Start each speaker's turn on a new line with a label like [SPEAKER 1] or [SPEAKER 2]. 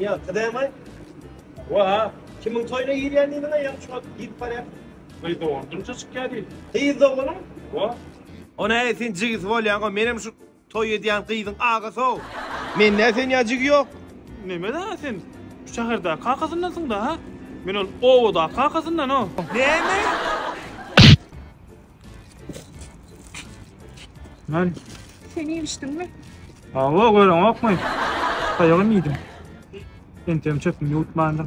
[SPEAKER 1] Ya kıdemay.
[SPEAKER 2] Wa, kimin toyuna girýän diýdiň aýam şuňa
[SPEAKER 1] gidip barýar.
[SPEAKER 2] Gyz dogandyrça çykýar diýdi.
[SPEAKER 1] Gyz doganyň? Wa. Ona äý sen jigisi bolýaň, o menem şu toy edýän gyzyň agasy-ow. Mende sen ýa jigi ýok. Neme da
[SPEAKER 2] sen? Şu şäherdäki kakasyndansyň da, ha? Men ol obadaky kakasyndan-ow. Näme? Lan. Sen iýmişdiň
[SPEAKER 3] mi? Awa,
[SPEAKER 2] gören okmy? Taýagym iýdim. Entegim çöpüm ýuwutmandyr.